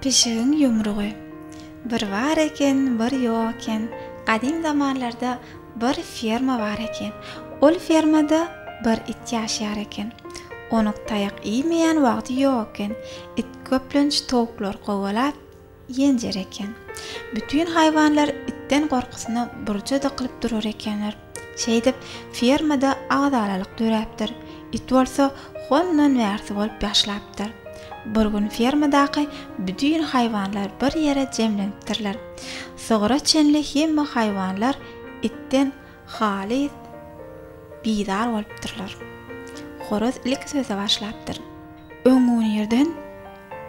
Pişigiň ýumrugy. Bir bar eken, bir ýok eken. Gadym zamanlarda bir ferma bar eken. Ol fermada bir it ýaşaýar eken. Onuk taýak iýmeýän wagty ýok eken. It köplenç towuklary kowalap, Ýenjer eken. Bütin haýwanlar itden gorkusyna burja dykylyp durar ekenler. Şeýdip, fermada agzalalyk döräpdir. It bolsa hondan wärsi bolup ýaşlapdyr. Bir gün fermadaky bütin haýwanlar bir ýere jemlenipdirler. Sygyra çenli hemme haýwanlar itden Halys bizar bolupdyrlar. Horaz ilki söze başlapdyr. Öňňünirden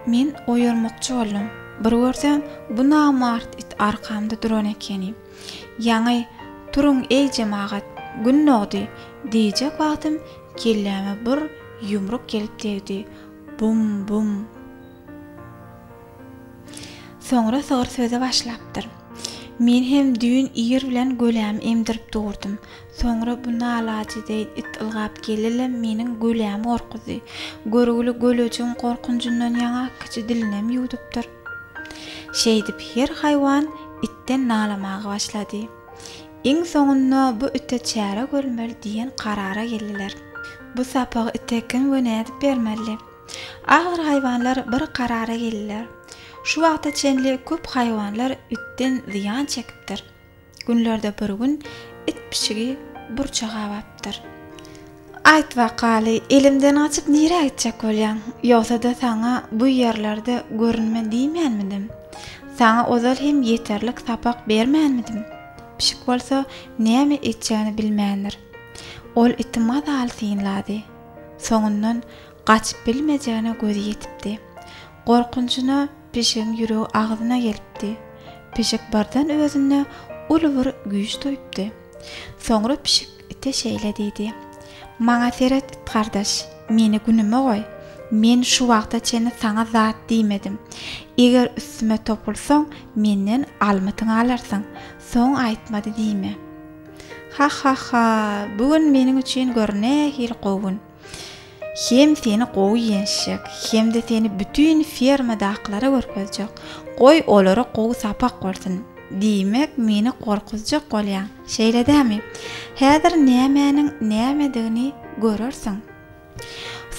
men oýarmakçy boldum. Bir görsem, bu namart it arkamda duran ekeni. Ýaňy, Turuň, eý, jemagat, Gün dogdy! diýjek wagtym kelläme bir ýumruk gelip degdi. Bum-bum! Soňra Sor söze başlapdyr. Men hem düýn ir bilen gölämi emdirip durdum. Soňra bu nalajedeýin it ylgap geldi-le, meniň gölämi gorkuzdy. Görgüli gölejigiň gorkunjyndan ýaňa kiçi dilinem ýuwdupdyr. Şeýdip, her haýwan itden nalamaga başlady. Iň soňunda bu ite çäre görmeli diýen karara geldiler. Bu sapagy ite kim we nädip bermeli? Agyr haýwanlar bir karara geldiler. Şu wagta çenli köp haýwanlar itden zyýan çekipdir. Günlerde bir gün it pişigi burça gabapdyr. Aýt wakaly, elimden gaçyp nirä gitjek bolýaň? Ýogsa-da saňa bu ýerlerde görünme diýmänmidim? Saňa ozal hem ýeterlik sapak bermänmidim? Pişik bolsa näme etjegini bilmändir. Ol iti mazaly synlady. Soňundan gaçyp bilmejegine gözi ýetipdi. Gorkunjyna pişigiň ýüregi agzyna gelipdi. Pişik birden özünde uly bir güýç duýupdy. Soňra pişik ite şeýle diýdi, Maňa seret, it gardaş, meni günüme goý. Men şu wagta çenli saňa zat diýmedim. Eger üstüme topulsaň, menden almytyňy alarsyň. Soň aýtmady diýme. Hahahha bu gün meniň üçin gör nähili gowy gün. Hem seni gowy ýençjek, hem-de seni bütin fermadakylara görkezjek. Goý olara gowy sapak bolsun. Diýmek meni gorkuzjak bolýaň, şeýle dämi? Häzir nämäniň nämedigini görersiň.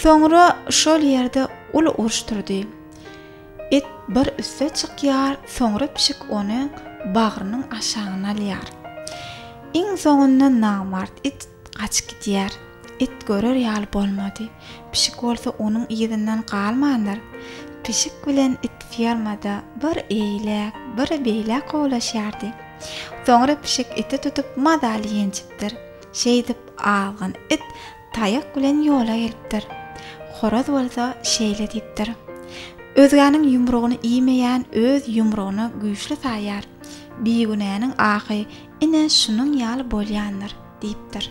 Soňra şol ýerde uly uruş turdy. It bir üste çykýar, soňra pişik ony bagrynyň aşagyna alýar. Iň soňunda namart it gaçyp gidýär. It görer ýaly bolmady. Pişik bolsa onuň yzyndan galmandyr. Pişik bilen it fermada bir eýläk, bir beýläk kowlaşýardy. Soňra pişik iti tutup mazaly ýenjipdir. Şeýdip, azgyn it Taýak bilen ýola gelipdir. Horaz bolsa şeýle diýipdir, Özgäniň ýumrugyny iýmeýän öz ýumrugyny güýçli saýýar. Bigünäniň ahy ine şunuň ýaly bolýandyr, diýipdir.